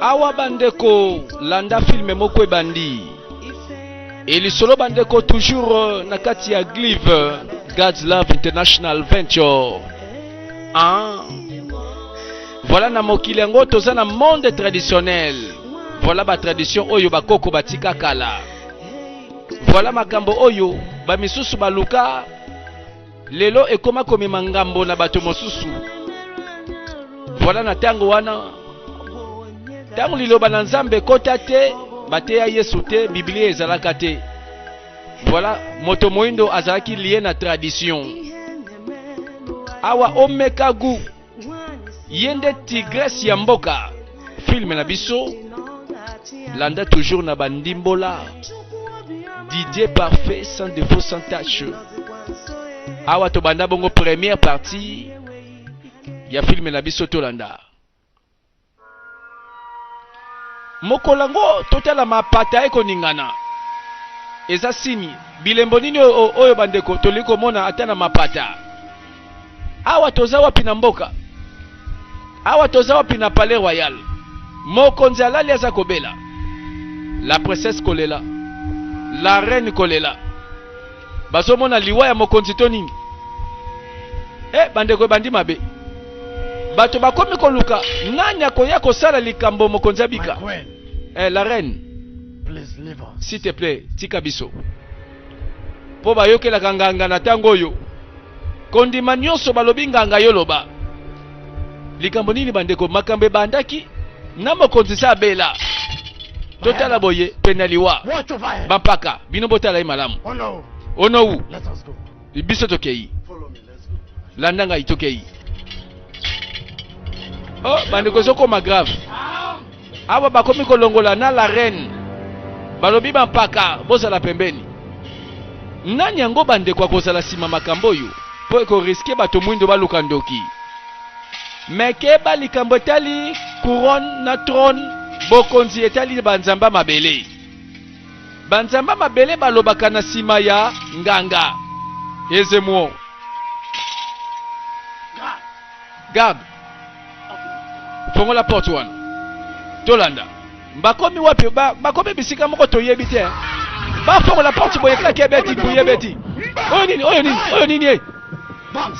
awa bandeko landa filme moko ebandi elisolo bandeko toujours euh, na kati ya glive euh, god's love international venture ah. voilà na mokili yango toza na monde traditionnel voilà batradition oyo bakoko batika kala Voilà makambo oyo ba misusu baluka lelo ekoma komema ngambo na bato mosusu. Voilà na tango wana tango liloba na Nzambe kota te bateya Yesu te Biblia ezalaka te. Voilà moto moindo azalaki lié na tradition. Awa omeka goût ye nde tigresse ya mboka filme na biso landa toujours na bandimbola didier parfait sans défaut sans tache awa tobanda bongo première partie ya filme na biso tolanda Mokolo yango totala mapata ekoningana eza sini bilembo nini oyo bandeko tolingi komona ata na mapata awa toza wapi na mboka awa toza wapi na palais royal mokonzi alali aza kobela la princesse kolela la reine kolela bazomona liwa ya mokonzi to nini e bandeko ebandi mabe bato bakomi koluka nani akoya kosala likambo mokonzi abika eh, la reine s'il te plaît tika biso mpo bayokelaka nganga na ntango oyo kondima nyonso balobi nganga yo loba likambo nini bandeko makambo ebandaki na mokonzi se abela totala boye pene ya liwa bampaka bino botala ye malamu onowu biso tokei landa ngai tokei oh bandeko ezokoma grave Awa bakomi kolongola na la reine, balobi bampaka bozala pembeni. Nani yango bandeko akozala nsima makambo oyo mpo ekoriske bato mwindo baluka ndoki? Me keba likambo etali couronne na trone, bokonzi etali banzamba mabele. Banzamba mabele balobaka na nsima ya nganga Ezemuo. Gab. fongola porte wana tolanda bakomi wapi bakomi bisika moko toyebi te bafongola porte boye kaka ebeti boye ebeti oyo nini oyo nini oyo nini ye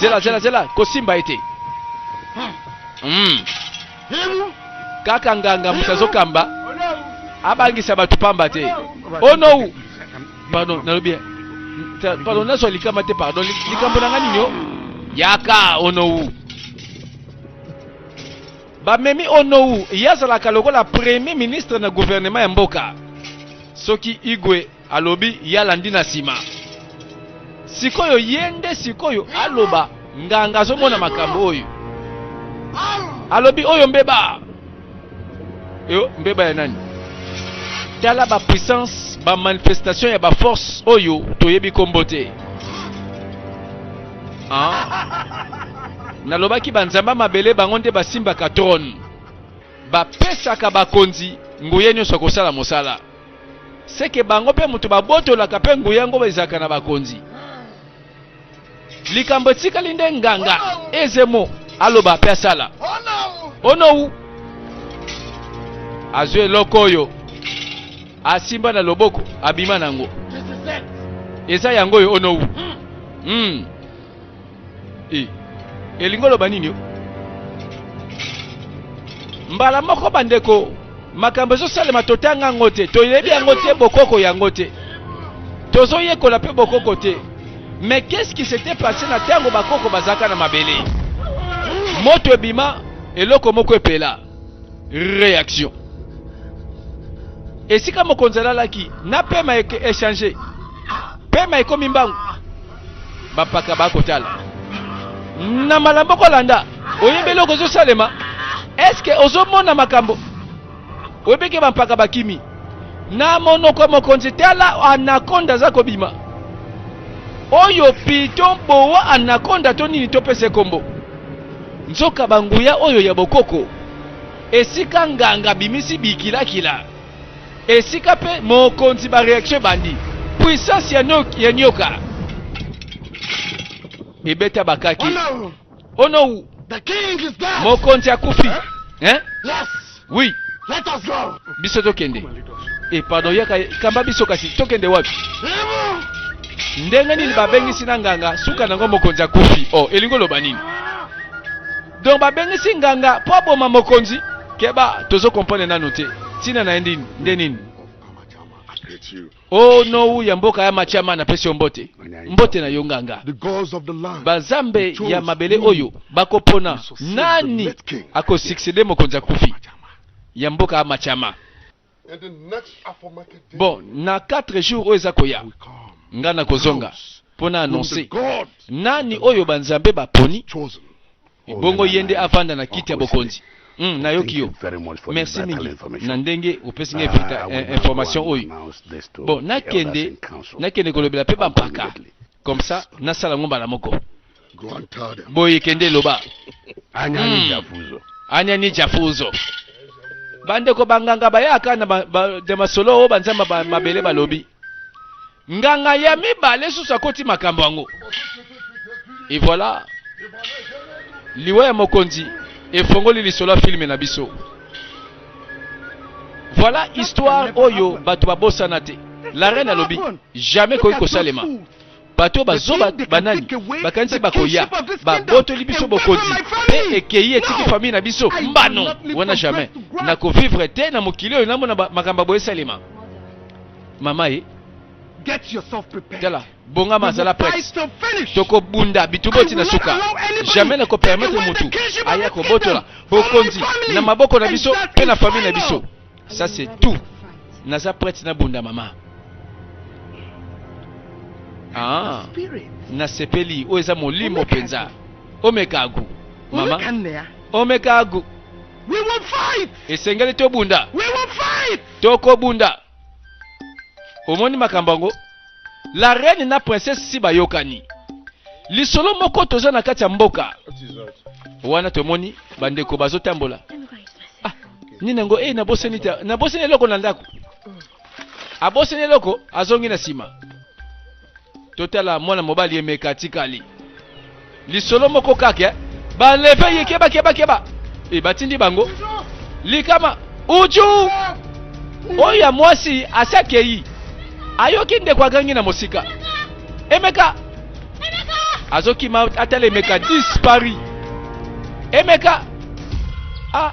zela zela zela kosimba ye te hmm. kaka nganga moto azokamba abangisa bato pamba te onou oh pardon nalobi pardon nazwa likama te pardon likambo na nga nini o yaka onou bamemi onou ye azalaka lokola premier ministre na gouvernement ya mboka soki igwe alobi ye alandi na nsima sikoyo ye nde sikoyo aloba nganga azomona makambo oyo alobi oyo mbeba Yo mbeba ya nani? Tala ba puissance ba manifestation ya ba force oyo toyebi kombo te. Ah. Nalobaki ba nzamba mabele bango nde basimbaka trône. Bapesaka bakonzi nguya nyonso kosala mosala. Seke bango mpe moto babotolaka mpe nguya yango ezalaka na bakonzi. likambo etikali nde nganga ezemo aloba mpe asala onou azwi eloko oyo asimba na loboko abima na yango eza yango oyo onou hmm. hmm. e. elingi oloba nini yo mbala moko bandeko makambo ezosalema totanga yango te toyebi yango te bokoko yango te tozoyekola mpe bokoko te mais qu'est-ce qui s'était passé na ntango bakoko bazalaka na mabele moto ebima eloko moko epela réaction esika mokonzi alalaki na pema echange pema ekomi mbangu bapaka bakotala na mbala moko olanda oyebi eloko ezosalema eske ozomona makambo oyebeke bampaka bakimi na monoko mokonzi tala anakonda aza kobima oyo piton boa anakonda to nini topesa ekombo nzoka banguya oyo ya bokoko esika nganga bimisi bikilakila Esika pe mokonzi ba reaction ebandi. Puissance ya nyoka, ya nyoka. Ebeta bakaki. Oh no! Oh no! The king is dead. Mokonzi akufi. Hein? Hein? Yes. Oui. Let us go. Biso tokende. Eh pardon yaka kamba biso kasi tokende wapi? Ndenge nini babengisi na nganga suka nango mokonzi akufi. Oh, elingo loba nini? Donc babengisi nganga po aboma mokonzi keba tozo comprendre nanu te ntina na ye ndini nde nini o nou ya mboka ya machama napesi yo mbote mbote na yo nganga bazambe ya mabele oyo bakopona nani akosuccede mokonzi akufi ya mboka ya machama Bon, na 4 jours oyo eza koya, nga na kozonga mpo na annonce nani oyo banzambe baponi, bongo ye nde avanda na kiti ya bokonzi. Mm, nayoki yo. Merci mingi na ndenge opesi ngai ah, eh, information oyo. Bon, nakende nakende kolobela mpe bampaka comme ça nasala yango mbala moko boye kende loba anyani hmm. jafuzo anyani jafuzo bandeko banganga bayaka na de masolo oyo banzambe mabele balobi nganga ya mibale susu akoti makambo yango e voilà liwa ya mokonzi efongoli lisolo ya filme na biso Voilà histoire oyo bato babosana te. La reine alobi jamais koki kosalema. bato bazoba banani bakanisi bakoya babotoli biso bokonzi mpe ekei etiki famille na biso mbano wana jamais nakovivre te na mokili oyo namona makambo ya boye esalema mama ye tala bongama azala prete tokobunda bituboti na suka jamais nakopermetre mutu aya kobotola bokonzi na maboko na biso mpe na famille na biso ça c'est tout naza prete nabunda mama ah, nasepeli oyo eza molimo mpenza omekagu mama omekagu esengeli tobunda tokobunda omoni makambo yango la reine na princesse si bayokani lisolo moko toza na kati ya mboka wana tomoni bandeko bazotambola ah, nini yango e eh, nabosani nabosani eloko na ndako abosani eloko azongi na nsima totala mwana mobali emeka atikali lisolo moko kaka eh? baleve ye keba keba keba e batindi bango likama uju oyo ya mwasi asi akei ayoki ndeko agangi na mosika emeka azokima atala emeka dispari emeka ah.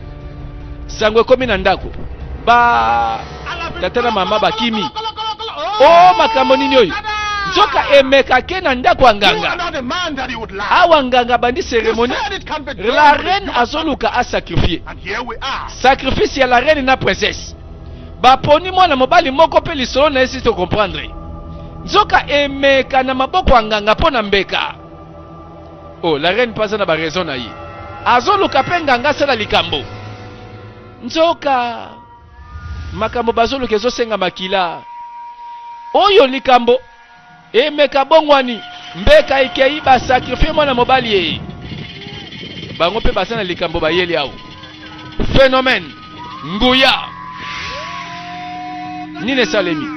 sango ekomi na ndako ba tata na mama bakimi o oh, makambo nini oyo nzoka emeka ke na ndako ya nganga awa nganga abandi seremoni la reine azoluka asakrifie sacrifice ya la reine na princesse baponi mwana mobali moko mpe lisolo na ye si tokomprendre nzoka emeka na maboko ya nganga mpo na mbeka Oh, la reine paza na ba raison na ye. Azoluka pe nganga sala likambo. Nzoka makambo bazoluka ezosenga makila. Oyo likambo emeka bongwani mbeka ekei ba sacrifier mwana mobali ye. Bango pe baza na likambo bayeli awo. Phénomène nguya nini esalemi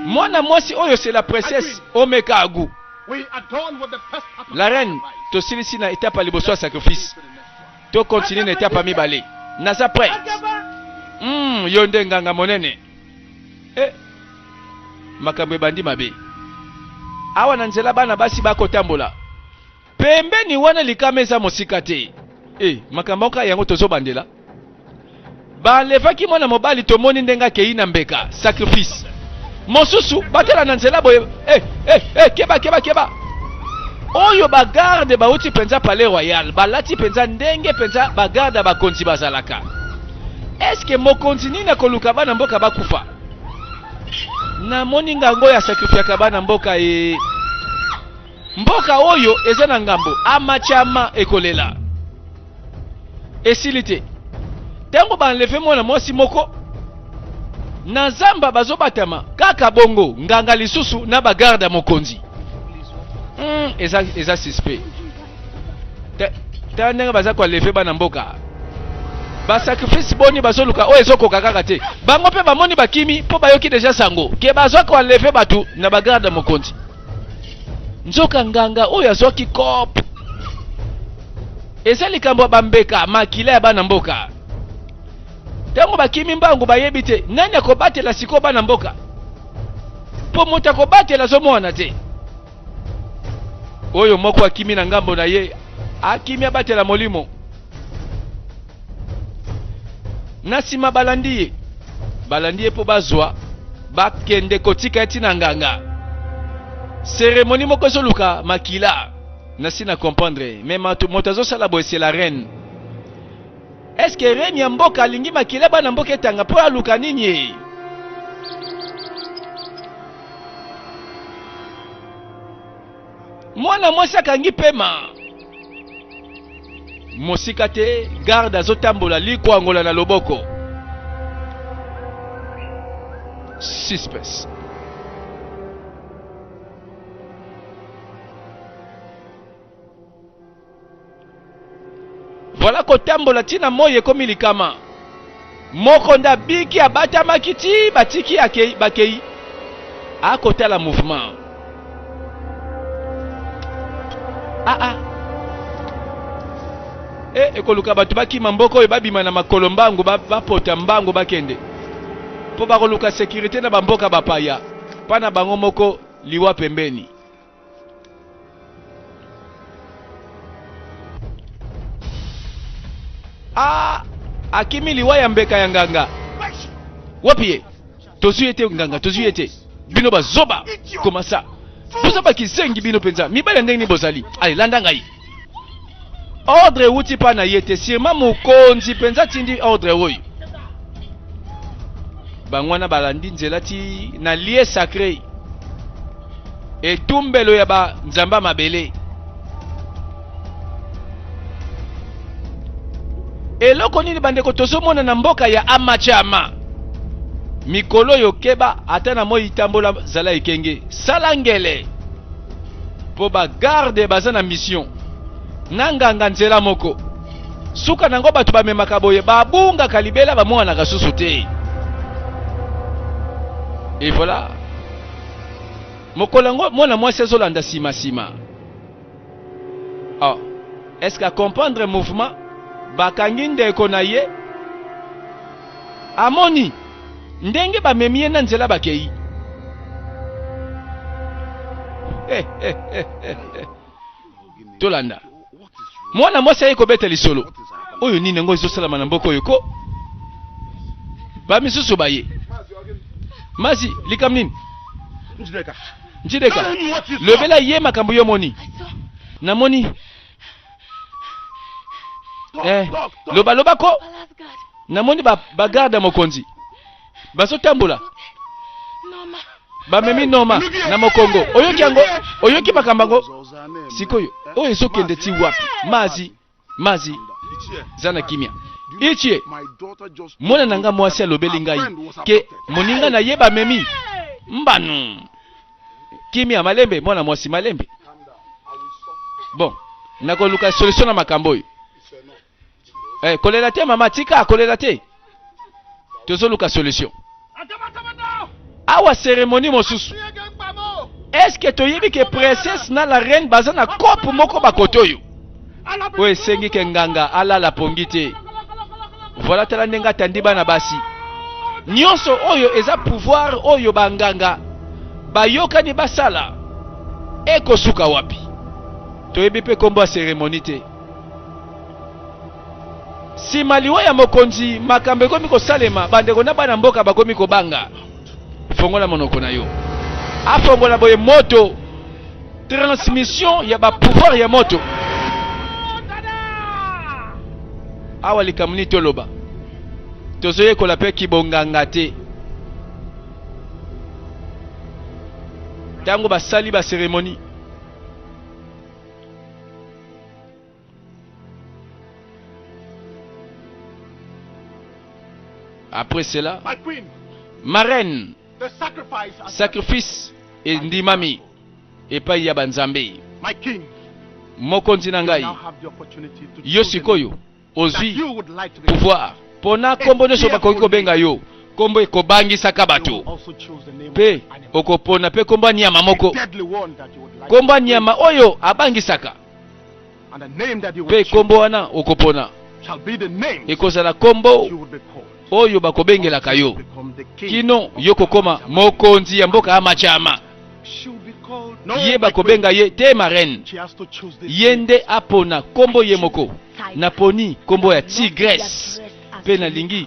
mwana mwasi oyo c'est la princesse omeka agu La reine, tosilisi na etape ya liboso ya sacrifice. To continuer na etape ya mibale. Naza prête. Mm, yo nde nganga monene. Eh. Makambo ebandi mabe. Awa na nzela bana basi bakotambola. Pembeni wana likama eza mosika te. Eh, makambo yango tozo bandela. Balevaki mwana mobali, tomoni ndenge akei na mbeka, sacrifice. Mosusu batela na nzela boye, eh, eh, eh, keba, keba, keba. Oyo ba garde bauti penza palais royal, balati penza ndenge penza ba garde ya bakonzi bazalaka. Est-ce que mokonzi nini akoluka bana mboka bakufa? Namoni ngango ya sacrifiaka bana mboka ye. Eh. Mboka oyo eza na ngambo amachama ekolela esili te ntango baenleve mwana mwasi moko na zamba bazobatama kaka bongo nganga lisusu na bagarde ya mokonzi mm, eza, eza suspect tala ndenge baza koaleve bana mboka basacrifice boni bazoluka oyo ezokoka kaka te bango mpe bamoni bakimi mpo bayoki deja sango ke bazwa koaleve bato na bagarde ya mokonzi nzoka nganga oyo azwaki cop eza likambo ya bambeka makila ya bana mboka ntango bakimi mbangu bayebi te nani akobatela sikoyo bana mboka mpo moto akobatela azomwana te oyo moko akimi na ngambo na ye akimi abatela molimo na nsima balandi ye balandi ye mpo bazwa bakende kotika ye ntina nganga seremoni moko ezoluka makila nasi na comprendre me moto azosala boye se la reine eske reine ya mboka alingi makila bana mboka etanga mpo aluka nini ye mwana mwasi akangi pema mosika te garde azotambola likwangola na loboko suspes Voilà kotambola ti na moi ekomi likama. Moko nda biki abatamaki ti batiki akei bakei. Akotala mouvement. Ah ah. E ekoluka bato bakima mboka oyo babima na makolo mbangu bapota mbangu bakende mpo bakoluka sekirite na bamboka bapaya mpa na bango moko liwa pembeni. Ah, akimi liwa ya mbeka ya nganga wapi ye tozwi ye te nganga tozwi ye te bino bazoba komasa boza bakizengi bino mpenza mibali ya ndenge nini bozali ale landa ngai Ordre ewuti epai na ye te, sirema mokonzi mpenza atindi ordre oyo. Bango wana balandi nzela ti na lie sacre, etumbelo ya banzambe mabele. Eloko nini bandeko tozomona na mboka ya Amachama? Mikolo oyo keba, ata na moi tambola, zala ekenge, sala ngele. mpo bagarde baza na mission na nganga nzela moko suka na yango bato bamemaka boye babungaka libela bamonanaka susu te e voilà mokolo yango mwana mwasi azolanda nsima nsima oh. est ce que acomprendre mouvement bakangi ndeko na ye Amoni ndenge bamemi ye na nzela bakei. Tolanda. Mwana mwasi aye kobeta lisolo. Oyo nini yango ezosalama na mboka oyo ko? Bamisusu baye. Mazi, likambo nini? Njideka, lobela ye makambo yo moni. Namoni eh, loba loba ko namoni bagarde ba ya mokonzi bazotambola bamemi noma na mokongo oyoki yango oyoki makambo yango sikoyo oyo ezokende ti wapi mazi mazi za na kimia itie mwana na ngai mwasi alobeli ngai ke moninga na ye bamemi mbanu kimia malembe mwana mwasi malembe bon nakoluka solution na makambo oyo eh, kolela te mama tika kolela te tozoluka solution awa seremoni mosusu eske toyebi ke princesse na la reine baza na cope moko bakote oyo oyo esengi ke nganga alala pongi te voilà tala ndenge atandi bana basi nyonso oyo eza pouvoir oyo banganga bayokani basala ekosuka wapi toyebi mpe nkombo ya seremoni te nsima liwa ya mokonzi makambo ekomi kosalema bandeko na bana mboka bakomi kobanga fongola monoko na yo afongola boye moto transmission ya bapouvoir ya moto awa likambo nini toloba tozoyekola mpe kibonganga te ntango basali baseremoni Après cela, ma reine, sacrifice et ndimami et pas yabanzambe. Mokonzi na ngai, yo sikoyo ozwi pouvoir pona kombo nyonso bakoki kobenga yo kombo ekobangisaka bato mpe okopona mpe kombo ya nyama moko kombo ya nyama oyo abangisaka mpe nkombo wana okopona ekozala nkombo oyo bakobengelaka yo kino yo kokoma mokonzi ya mboka ya machama ye bakobenga ye te marraine ye nde apona nkombo ye moko naponi nkombo ya tigresse mpe nalingi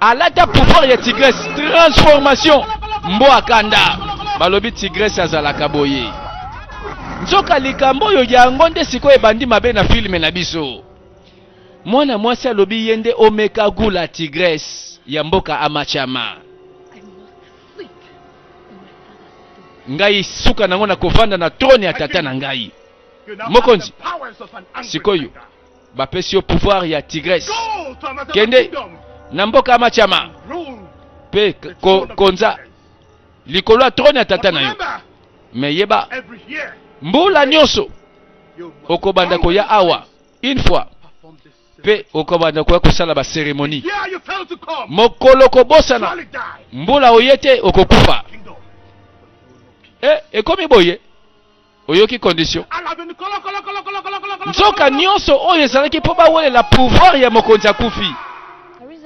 Alata pouvoir ya Tigresse transformation mboa kanda balobi Tigresse azalaka boye nzoka likambo oyo yango nde sikoyo ebandi mabe na filme na biso mwana mwasi alobi ye nde omeka gula Tigresse ya mboka amachama ngai suka nango na kovanda na trone ya tata na ngai mokonzi sikoyo bapesi yo pouvoir ya tigres kende na mboka ya machama mpe ko, konza likolo ya trone ya tata na yo me yeba mbula nyonso okobanda koya awa une fois mpe okobanda koya kosala baseremoni mokolo kobosana mbula oye te okokufa e, ekomi boye oyoki condition nzoka nyonso oyo ezalaki mpo bawelela pouvoir ya mokonzi akufi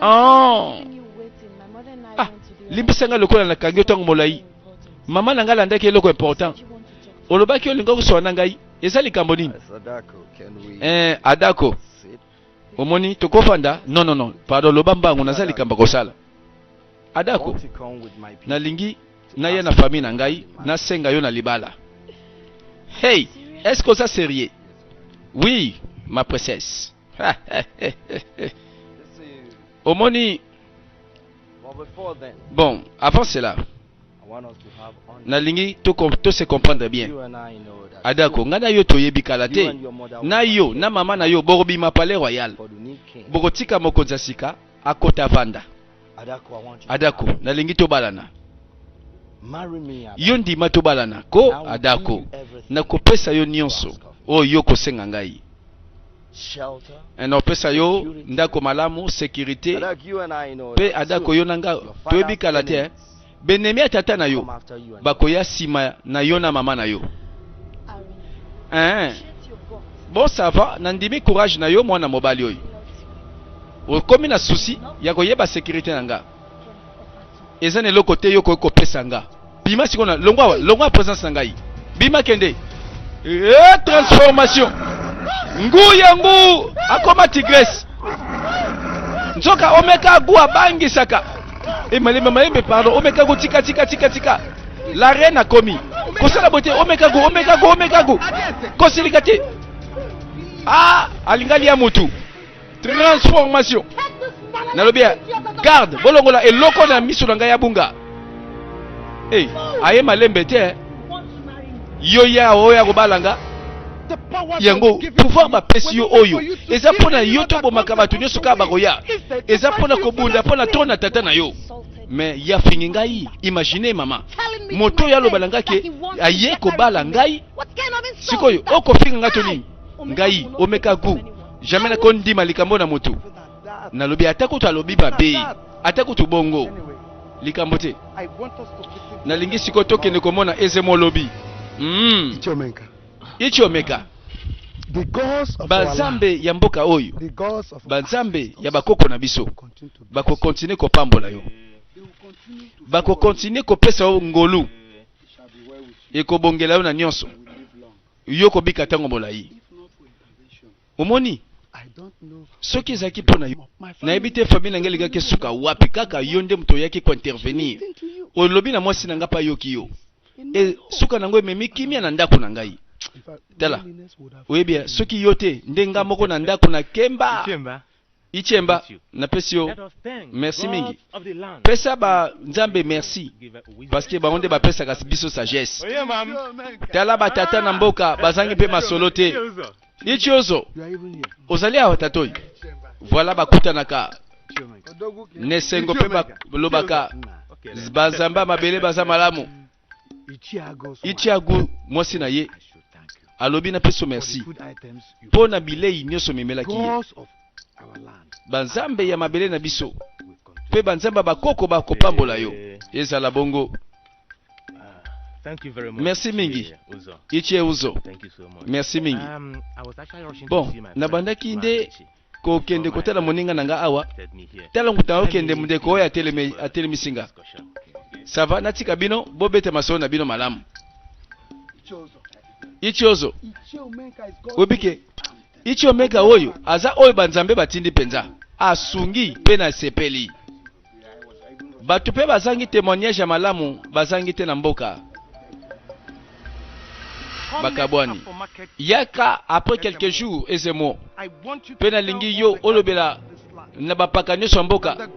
oh. ah, limbisa ngai lokola nakangi yo ntango molai mama na ngai alandaki eloko important olobaki olingaki koswana ngai eza likambo nini eh, adako Omoni tokofanda non non non pardon loba mbangu naza likamba kosala adako nalingi naya na famille na ngai nasenga yo na libala hey est-ce que oza sérieux oui ma princesse omoni bon avant cela nalingi to, to se comprendre bien adako ngai na yo toyebi kala te na yo na mama na yo bokobima palais royal bokotika mokonzi ya sika akota vanda adako nalingi tobalana yo ndima tobalana ko adako nakopesa yo nyonso oyo yo kosenga ngai na opesa yo ndako malamu sekirite mpe adako yo na nga toyebi kala te eh? benemi ya tata na yo bakoya nsima na yo na mama na yo eh? bon ça va nandimi courage na yo mwana mobali oyo okomi na susi ya koyeba sekirite na nga eza na eloko te yo okoki kopesa nga bima sikoyo na longwa longwa presence na ngai bima kende e transformation ngu ya ngu akoma tigresse nzoka omeka gu abangisaka e malembe malembe pardon omeka gu tika tika tika tika la reine akomi kosala boye te omeka gu omeka gu omeka gu kosilika te ah alinga lia mutu transformation nalobi ya garde bolongola eloko na miso na ngai ya bunga hey, aye malembe te eh. yo ya oyo akobala nga yango pouvoir bapesi yo oyo eza mpo na yo tobomaka bato nyonso kaka bakoya eza mpo na kobunda mpo na to na tata na yo me ya fingi ngai imagine mama moto oyo aloba na ngai ke aye kobala ngai sikoyo okofinga ngai to nini ngai omeka gout Jamais na kondima likambo na mutu. Nalobi ata kutu alobi mabe, ata kutu bongo. Likambo te. Nalingi sikoyo tokende komona Ezemo lobi. Mm. Ichiomeka. Ichiomeka. banzambe ya mboka oyo banzambe ya bakoko na biso bakokontinue kopambola yo bakokontinue kopesa yo ngolu ekobongela yo na nyonso yo kobika ntango molai. Omoni? soki ezalaki mpo na yo nayebi te famille na ngai elingaki esuka wapi kaka yo nde moto oyaki kointervenir olobi na mwasi na ngai mpe ayoki yo e, suka na yango ememi kimia na ndako na ngai tala oyebi soki yo te nde ngai moko na ndako na kemba Itshemba, napesi yo merci mingi. Pesa ba nzambe merci parce que bango nde bapesaka biso sagesse. Tala ba tata na mboka bazangi mpe masolo te. Itshiozo, ozali awa tatoi. Voilà bakutanaka nesengo mpe balobaka banzambe ya mabele baza malamu. Ichiago mwasi na ye alobi na peso merci mpo na bilei nyonso memelaki ye banzambe ya mabele na biso mpe banzambe ya bakoko bakopambola yo eh. ezala bongo merci mingi ichie uzo merci mingi um, bon nabandaki nde kokende kotala moninga na nga awa. Tala nguta okende, mundeko oyo atelemisi nga. Sava, natika bino, bobete masolo na bino malamu. Ichiozo, obike, Ichiomeka oyo, aza oyo banzambe batindi penza. Asungi pe na sepeli. Bato mpe bazangi temoignage ya malamu bazangi te na mboka. Bakabwani. Yaka après quelques jours ezemo mpe nalingi yo olobela na bapaka nyonso ya mboka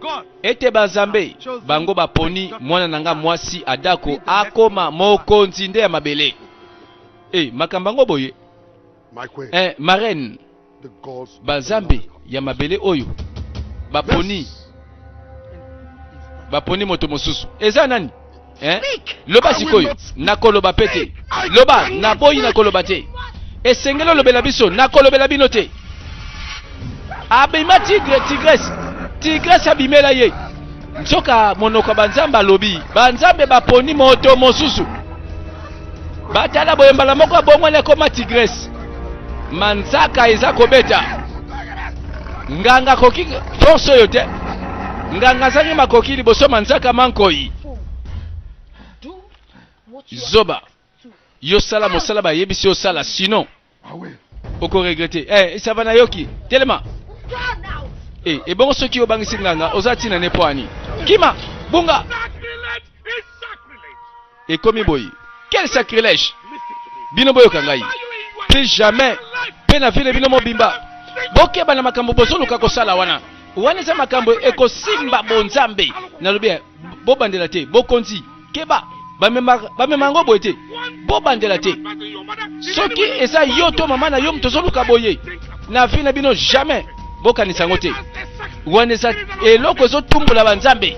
ete banzambe bango baponi mwana na nga mwasi adako akoma mokonzi nde ya mabele e makambo yango boye eh, marraine banzambe ya mabele oyo baponi baponi moto mosusu eza nani eh? loba sikoyo nakoloba mpe te loba naboyi nakoloba te esengeli olobela biso nakolobela bino te abima tigre tigrese tigrese abimela ye nzoka monoko ya banzambe alobi banzambe baponi moto mosusu batala boye mbala moko abongwani akoma tigrese manzaka eza kobeta nganga akoki force oyo te nganga azangi makoki liboso manzaka mankoi zoba yo sala mosala bayebisi osala sinon Ah ouais. Oko regretter. Eh, ça va nayoki. Telema. Eh, et bon soki obangisi nganga, oza tina ne poani. Kima, bunga. Et komi boyi. Quel sacrilège. Bino boyo kangai. Plus jamais. Pena vile bino mobimba. Bokeba na makambo bozoluka kosala wana. Wana eza makambo ekosimba bonzambe. Nalobi bobandela te, bokonzi. keba bamema yango boye te bobandela te soki eza yo to mama na yo moto ozoluka boye na vie na bino jamais bokanisa yango te wana eza eloko ezotumbola banzambe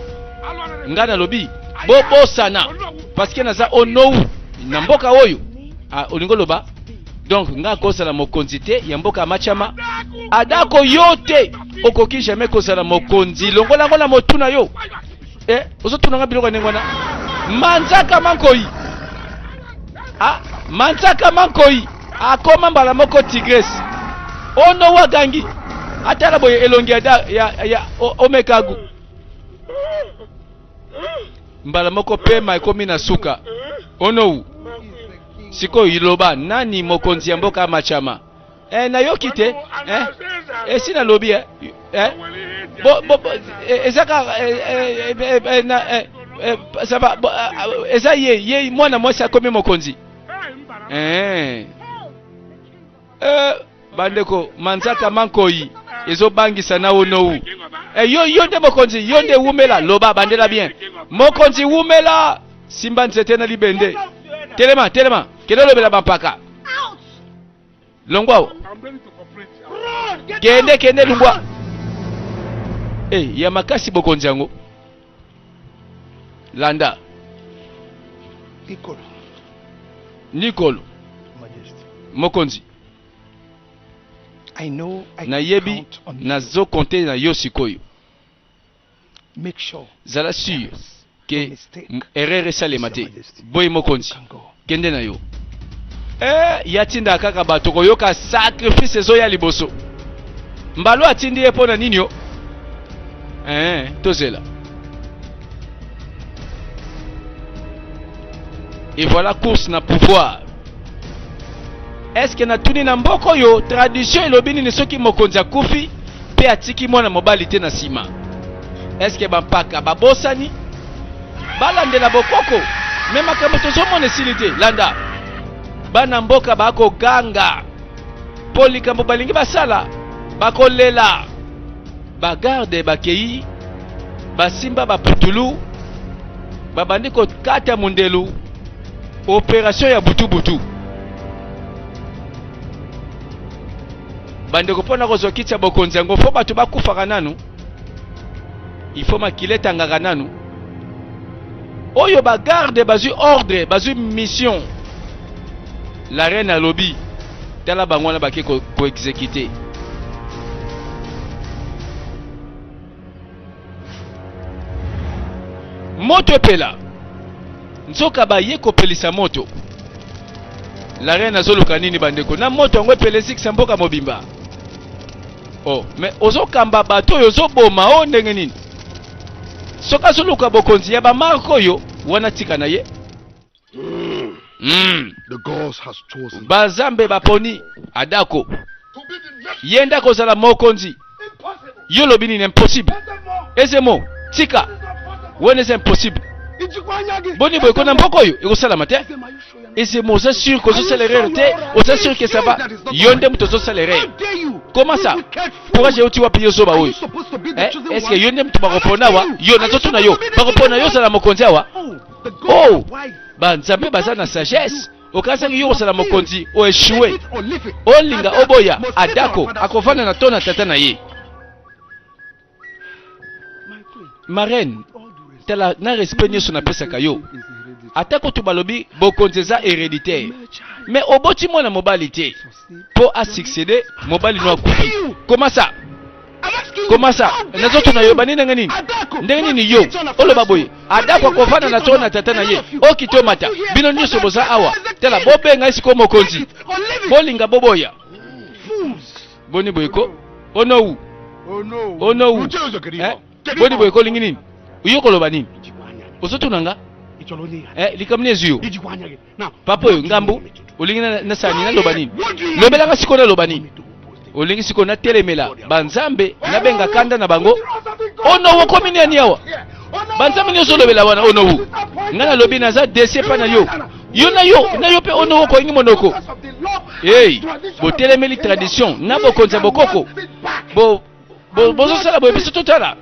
ngai nalobi bobosana parceke naza onou na mboka oyo ah, olingi oloba donc ngai akozala mokonzi te ya mboka ya machama adako yo te okoki jamais kozala mokonzi longola yango na motu na yo Eh, ozotuna nga biloko ya ndenge wana manzaka mankoi ah, manzaka mankoi akoma mbala moko tigres ono wagangi atala boye elongi ya, ya, ya omekagu mbala moko pema ekomi na suka onou sikoyo iloba nani mokonzi ya mboka machama eh, nayoki te eh, esi nalobi eh, eh, bo, bo, bo, eh, eza kaka eh, eh, eh, eh, na, eh, eh, ça va, bo, ah, ah, eza ye ye mwana mwasi akomi mokonzi eh. Eh, bandeko manzaka mankoyi ezobangisa na onowu eh, yo, yo nde mokonzi yo nde wumela loba bandela bien mokonzi wumela simba nzete na libende telema telema kende olobela bampaka longwa awa kende kende longwa hey, eh, ya makasi bokonzi yango landa nikolo nikolo mokonzi nayebi nazo konte na yo sikoyo Zala sur ke erreur esalema te. Boye mokonzi, kende na yo. Eh, ya tinda kaka bato koyoka sacrifice ezoya liboso. Mbalo atindi ye mpo na nini yo? Eh, tozela. Et voilà course na pouvoir. eske natuni na mboka oyo tradition elobi nini soki mokonzi akufi mpe atiki mwana mobali te na nsima eske bampaka babosani balandela bokoko me makambo tozomona esili te landa bana mboka bakoganga mpo likambo balingi basala bakolela bagarde bakei basimba baputulu babandi kokata mondelu operation ya butubutu bandeko mpo na kozwa kiti ya bokonzi yango fo bato bakufaka nanu ifo makila etangaka nanu oyo bagarde bazwi ordre bazwi mission la reine alobi tala bango wana bake koexekite ko moto epela nzoka baye kopelisa moto la reine azoluka nini bandeko na moto yango epelesikisa mboka mobimba oh, me ozokamba bato oyo ozoboma o oh, ndenge nini soki azoluka bokonzi ya bamarke oyo wana tika na ye Mm. Banzambe baponi Adako ye nde akozala mokonzi. Yo lobi nini? Impossible. Ezemo tika wana eza impossible. Boni boye kona mboko oyo ekosalama te. Ezemo oza sur que ozosala erreur te, oza sur que ça va. Yo nde moto ozosala erreur. Comment ça? Courage euti wapi yo zoba oyo? Eh, est-ce que yo nde moto bakopona awa? Yo nazotuna yo, bakopona yo ozala mokonzi awa? oh banzambe baza na sagesse okanisaki yo kosala mokonzi oeshue olinga oboya adako akovanda na to na tata na ye marraine tala na respect nyonso napesaka yo ata kutu balobi bokonzi eza hereditaire me oboti mwana mobali te po a succéder mobali no akufi koma sa koma sa nazoto na yo bani ndenge nini ndenge nini yo oloba boye adako akovanda na too na tata na ye okite omata bino nyonso boza awa tala bobenga esiko mokonzi bolinga boboya boni boye ko onowu onowu eh? boni boye ko olingi nini yo koloba nini ozotuna nga eh, likambo nini ezwi yo papa oyo ngambu olingi nasala nini naloba nini lobelaka sikoyo naloba nini olingi sikoyo natelemela banzambe nabenga kanda na bango ono oh okomi nani awa banzambe nyonso olobela wana ono oh ngai nalobi naza dese epai na yo yo na yo na yo mpe ono oh okoingi monoko ei botelemeli tradition na bokonzi ya bokoko bozosala boye biso totala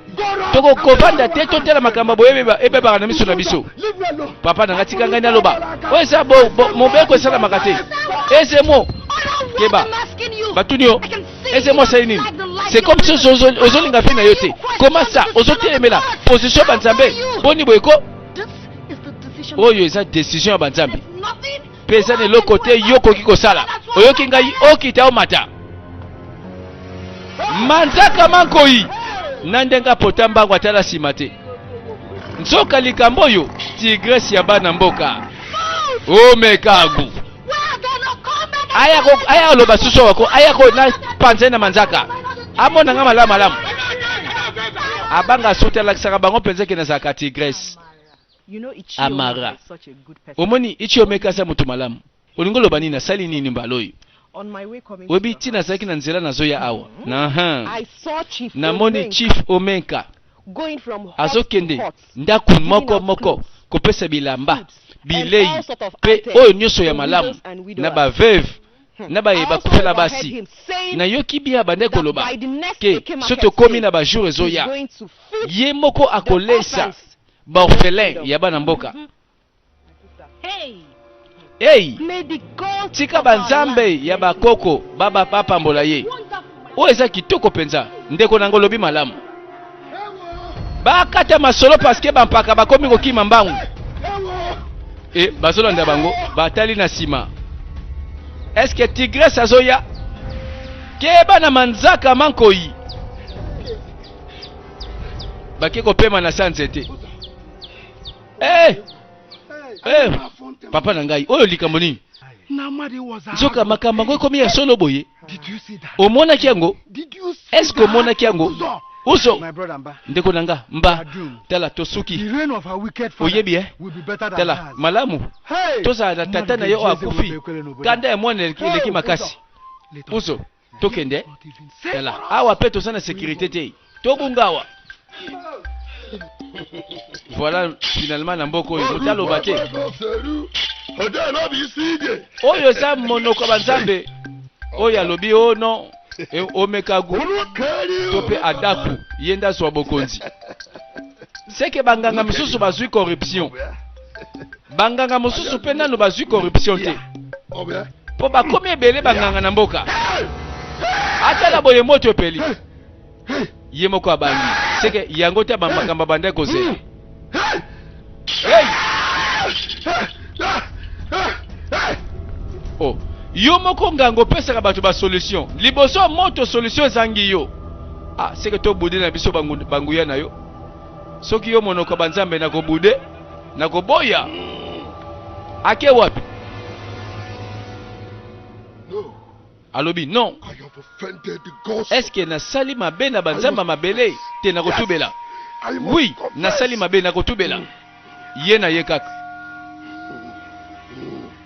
tokokovanda te totala makambo boye ebebaka na miso na biso papa nanga tika ngai naloba oyo eza mobeko esalamaka te ezemo keba batuni yo ezemo asali nini c'est comme si ozolinga mpe na yo te koma sa ozotelemela position ya banzambe boni boye ko oyo eza décision ya banzambe peza na eloko te yo okoki kosala oyoki ngai okita omata manzaka mankoi na ndenge apota mbango atala nsima te nzoka likambo oyo tigrese ya bana mboka omekagu aya aloba susu wako aya ko na panze na manzaka amona nga malamu malamu abanga suti alakisaka bango mpenza ke nazalaka tigrese Amara, omoni Ichiomeka aza mutu malamu. Olingi oloba nini? Asali nini mbala oyo? Oyebi ti nazalaki na nzela nazoya awa. Mm-hmm. Namoni Chief Omenka azokende ndako moko moko kopesa bilamba, bilei pe oyo nyonso ya malamu na ba veuve Hmm. na baye bakufela basi nayoki bia bande koloba ke so tokomi na bajour ezoya ye moko akolesa Ba orphelins ya bana mboka. Hey! Tika ba nzambe ya ba koko ba ba bapambola ye. Oyo eza kitoko penza. Ndeko nango lobi malamu. Bakata masolo parce que ba mpaka bakomi kokima mbangu. Et bazolanda bango batali na sima. Est-ce que Tigresse azoya? Keba na manzaka mankoyi. bake kopema na sa nzete hey! Eh! Hey! Eh! papa na ngai oyo likambo nini nzoka makambo yango ekomi ya solo boye omonaki yango eske omonaki yango uso ndeko na nga mba tala tosuki oyebi e tala malamu tozala na tata na ye oyo akufi kanda ya mwana eleki makasi uso tokende tala awa mpe toza na sécurité te tobunga awa voilà finalement na mboka oyo moto aloba te oyo eza monoko banzambe oyo alobi o oh non e, omekagu to mpe adaku ye nde azwa bokonzi seke banganga mosusu bazwi corruption banganga mosusu mpe nano bazwi corruption te mpo bakomi ebele banganga na mboka atala boye moto epeli ye moko abangi seke yango te bamakambo abanda ekozela o oh, yo moko nganga opesaka bato basolution liboso moto solution ezangi yo ah seke tobudi na biso banguya na yo Soki yo monoko ba nzambe na ko boude na ko boya ake wapi alobi non est ce que na sali mabe na ba nzambe mabele te na ko tubela oui na sali mabe na ko tubela ye na ye kaka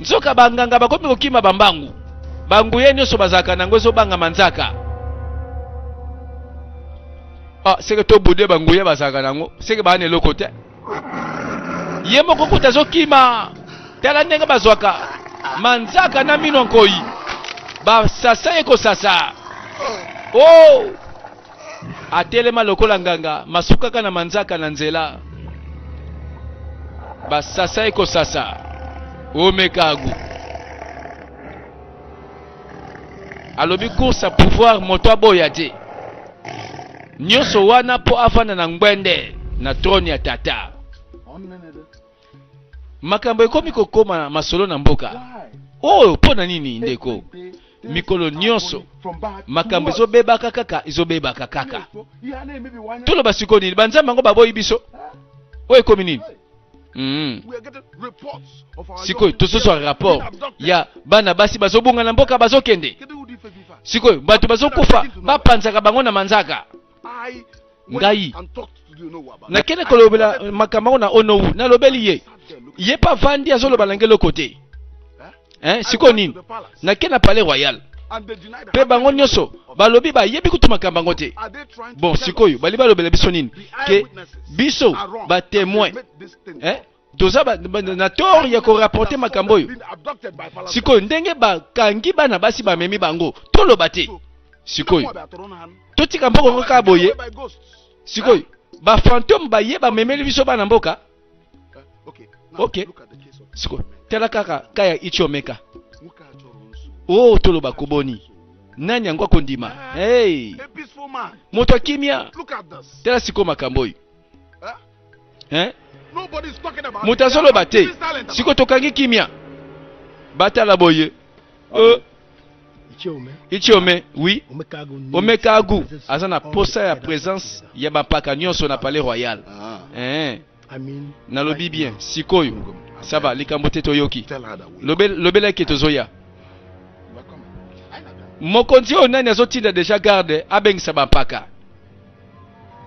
nzoka banganga bakomi kokima bambangu banguye nyonso bazalaka nango ezobanga manzaka ah, seke tobude banguye bazalaka nango seke baa na eloko te ye moko kuta azokima tala ndenge bazwaka manzaka na mino nkoi basasa ye kosasa oh! atelema lokola nganga masukaka na manzaka na nzela basasa ekosasa omekagu alobi course ya pouvoir moto aboya te nyonso wana mpo afanda na ngbende na trone ya tata makambo ekomi kokoma na masolo na mboka oyo oh, mpo na nini ndeko mikolo nyonso makambo ezobebaka kaka ezobebaka kaka toloba sikoyo nini banzambe yango baboyi biso oyo ekomi nini Mm. sikoyo tozozwa rapport ya bana basi bazobunga na mboka bazokende sikoyo bato bazokufa bapanzaka bango na manzaka ngai nakende kolobela makambo yango na onou nalobeli ye ye mpe avandi azoloba na ngai eloko te eh, sikoyo nini nakende na palais royal mpe bango nyonso balobi bayebi kutu makambo yango te bon sikoyo bali balobela biso nini ke biso batemoin eh? toza na tort ya korapporte makambo oyo sikoyo ndenge bakangi bana basi bamemi bango toloba te sikoyo totika mboka yango kaka boye sikoyo bafantome baye bamemeli biso bana mboka ok sikoyo tala kaka ka ya ichomeka o oh, toloba koboni nani yango akondima hey. moto akimia tala sikoyo makambo oyo eh? moto azoloba te siko tokangi kimia batala boye euh, ichiome oui omekagu aza na posa ya présence ya bampaka nyonso na palais royal ah. eh. nalobi bien sikoyo saba likambo te toyoki lobela eke tozoya mokonzi oyo nani azotinda deja garde abengisa bampaka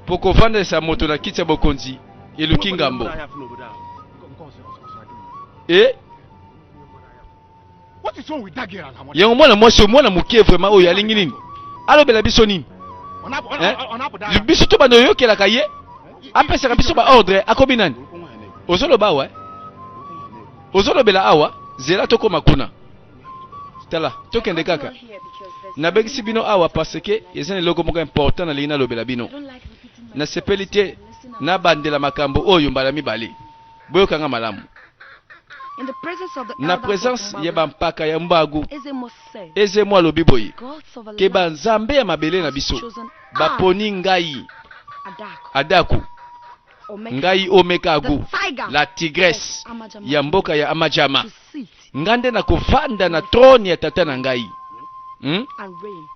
Mpo kofandisa moto na kiti ya bokonzi eluki ngambo e yango mwana mwasi oyo mwana moke vraimen oyo alingi nini alobela biso nini eh? biso to banda oyokelaka ye apesaka biso baordre akomi nani ozoloba awa eh? ozolobela awa zela tokoma kuna tala tokende kaka nabekisi bino awa parce que eza na eloko moko important nalingi nalobela bino nasepeli te nabandela makambo oyo mbala mibale boyokanga malamu na presence ya bampaka ya mbagu ezemo alobi boye ke banzambe ya mabele na biso baponi ngai adaku ngai omekagu la tigresse ya mboka ya amajama Nga nde nakovanda na trone ya tata na ngai hmm?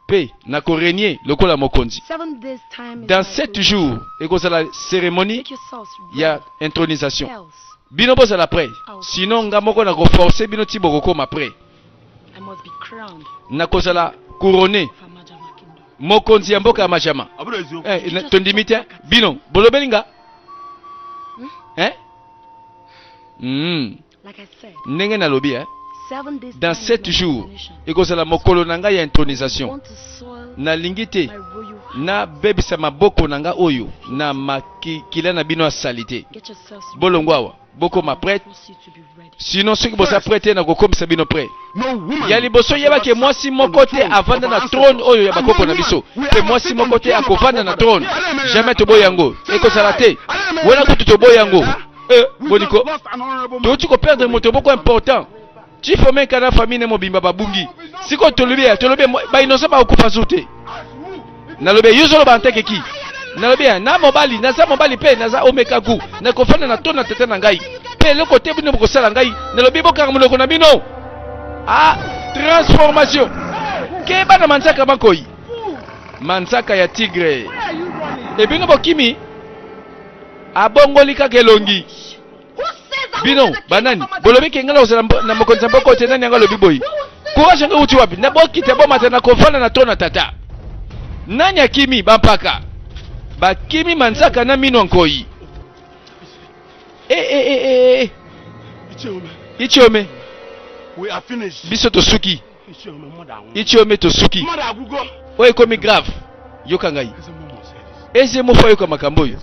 pe nakorenye lokola mokonzi. Dans sept jours ekozala ceremonie ya intronisation. Bino bozala prêt, sinon nga moko nakoforce bino ti bokokoma prêt. Nakozala couronne mokonzi ya mboka ya majama eh, tondimi te bino bolobeli nga hmm? eh? mm. ndenge nalobi eh? dans sept jours ekozala mokolo na ngai ya intronisation nalingi te nabebisa maboko na ngai oyo na makila na bino ya salite bolongwa awa bokoma prete sinon soki boza prete te nakokomisa bino prete ya liboso yebaki mwasi moko te avanda na trone oyo ya bakoko na biso mpe mwasi moko te akovanda na trone jamais toboya yango ekozala te wana kutu toboya yango Eh, boliko touti koperdre moto boko important chief omeka na famille ne mobimba babungi sikoyo tolobi ya tolobi bainosa bakokufa zu te nalobi yo ozoloba nteke ki nalobi ya na mobali naza mobali mpe naza omeka gu nakofanda na to na tata na ngai mpe eloko te bino bokosala ngai nalobi bokanga monoko na bino a transformation keba na manzaka makoi manzaka ya tigre ebino bokimi abongoli kaka elongi bino banani bolobi ke ngai nakozala na mokonzi ya mboka te nani yango alobi boye courage yango euti wapi na bokita bomata na kofanda na to na tata nani akimi bampaka bakimi manzaka na mino nkoi e, e, e, e. ichiome biso tosuki ichio me tosuki oyo ekomi grave yoka ngai eze mofo ayoka makambo oyo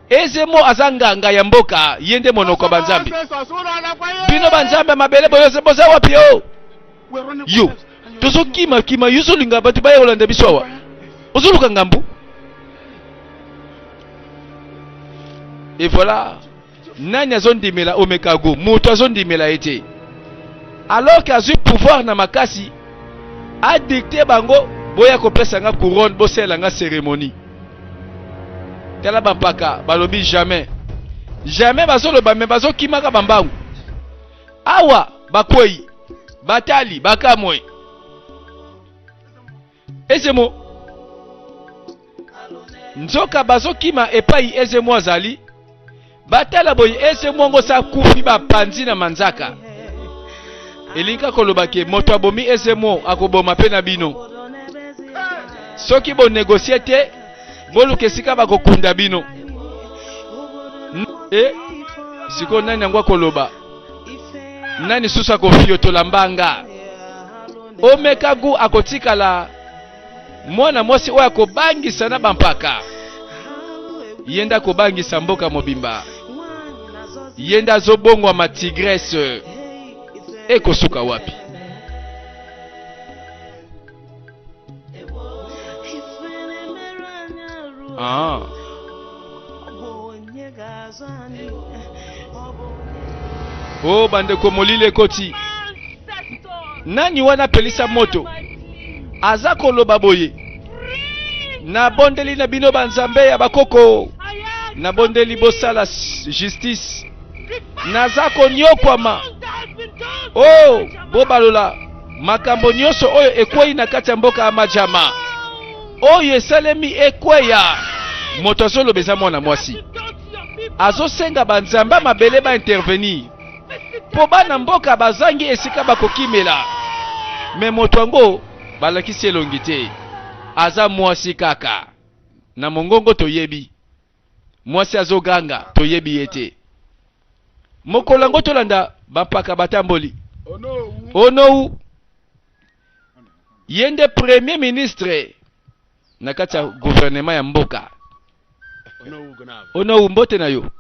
ezemo aza nganga ya mboka ye nde monoko ya banzambe bino banzambe ya mabele boza wapi o yo tozokima kima yo ozolinga bato baya kolanda biso awa ozoluka ngambu et voilà nani azondimela omekago moto azondimela ye te alors que azwi pouvoir na makasi adikte bango boya kopesa nga couronne bosalela nga cérémonie tala bampaka balobi jamais jamais bazoloba me bazokimaka bambangu awa bakwei batali bakamwe Ezemo nzoka bazokima epai ezemo azali batala boye ezemo yango sa akufi bapanzi na manzaka elingi koloba ke moto abomi ezemo akoboma mpe na bino soki bonegosie te boluka esika bakokunda bino e sikoyo nani yango akoloba nani susu akofiotola mbanga omeka gu akotikala mwana mwasi oyo akobangisa na bampaka ye nde akobangisa mboka mobimba ye nde azobongwama tigrese ekosuka wapi Ah. Oh, bandeko molili ekoti nani wana apelisa moto aza koloba boye nabondeli na bino banzambe ya bakoko nabondeli bosala justice naza konyokwama o oh, bobalola Makambo nyonso oyo ekwei na kati ya mboka ya Majama, oyo esalemi ekweya. Moto azoloba eza mwana mwasi azosenga banzambe ya mabele ba intervenir mpo bana mboka bazangi esika bakokimela. Me moto yango balakisi elongi te, aza mwasi kaka na mongongo toyebi. mwasi azoganga toyebi ye te mokolo yango tolanda bampaka batamboli onou ye nde premier ministre na kati ya guvernema ya mboka onou mbote na yo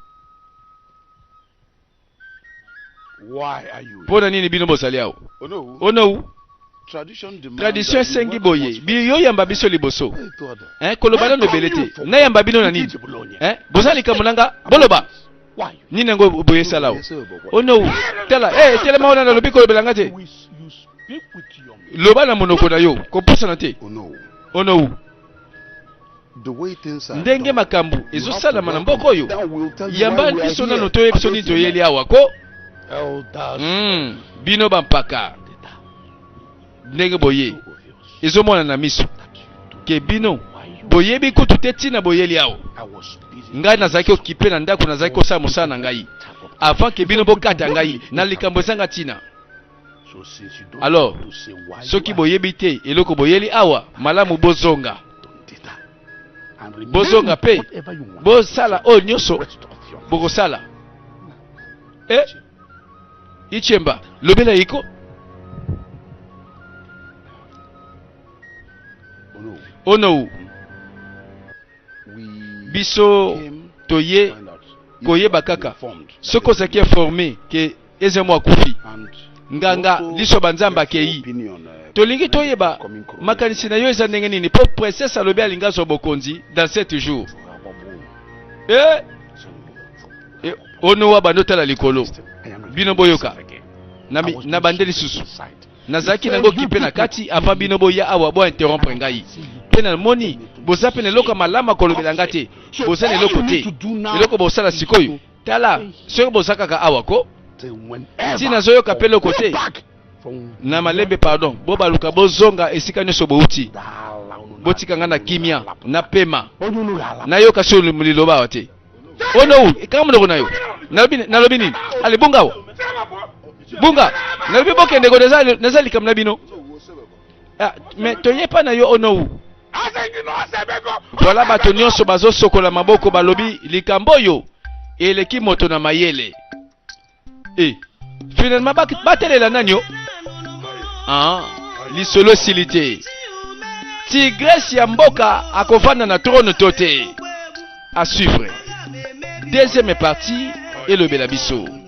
Mpo na nini bino bozali awa? Onou, tradition esengi boye, biyoyamba biso liboso. Eh, koloba nano ebele te. Nayamba bino na nini? Eh, boza likambo na nga, boloba. Nini yango boye esala awa? Onou, tala, eh, telema wana nalobi kolobela nga te. Loba na monoko na yo, kopusana te. Onou. ndenge makambo ezosalama na mboka oyo yamba biso nano toye biso nini toyeli awa ko mm, bino bampaka ndenge boye ezomona na miso ke bino boyebi kutu te ntina boyeli awa ngai nazalaki okipe na ndako nazalaki kosala mosala na ngai avant ke bino bokata ngai na likambo ezanga ntina Alors, soki boyebi te eloko boyeli awa, malamu bozonga. Bozonga pe bosala oyo nyonso bokosala. Eh, Ichemba, lobela yiko. Onou, biso toye koyeba kaka soki ozalaki informe ke Ezemo akufi. Nganga liso banzambe akei. Euh, Tolingi toyeba makanisi na yo eza ndenge nini mpo princesse alobi alingi azwa bokonzi dans sept jours. Eh? Eh, onowa bando tala likolo bino boyoka na bande lisusu nazalaki nango kipe na kati avant bino boya awa bo interrompre ngai mpe namoni boza mpe na eloko ya malamu akolobela nga te boza na eloko te eloko bosala sikoyo tala soki boza kaka awa ko ti nazoyoka mpe eloko te na malembe pardon bobaluka bozonga esika nyonso bouti botika ngai na kimia na pema nayoka so liloba awa te onou ekanga monoko na yo nalobi nini ale bunga awa bunga nalobi bokendeko naza likambo na bino Ah, mais toye epai na yo onou voilà bato nyonso bazosokola maboko balobi likambo oyo eleki moto na mayele e eh, finalement batelela nani o ah, lisolo esili te tigrese ya mboka akovanda na trone to te à suivre deuxième partie elobela biso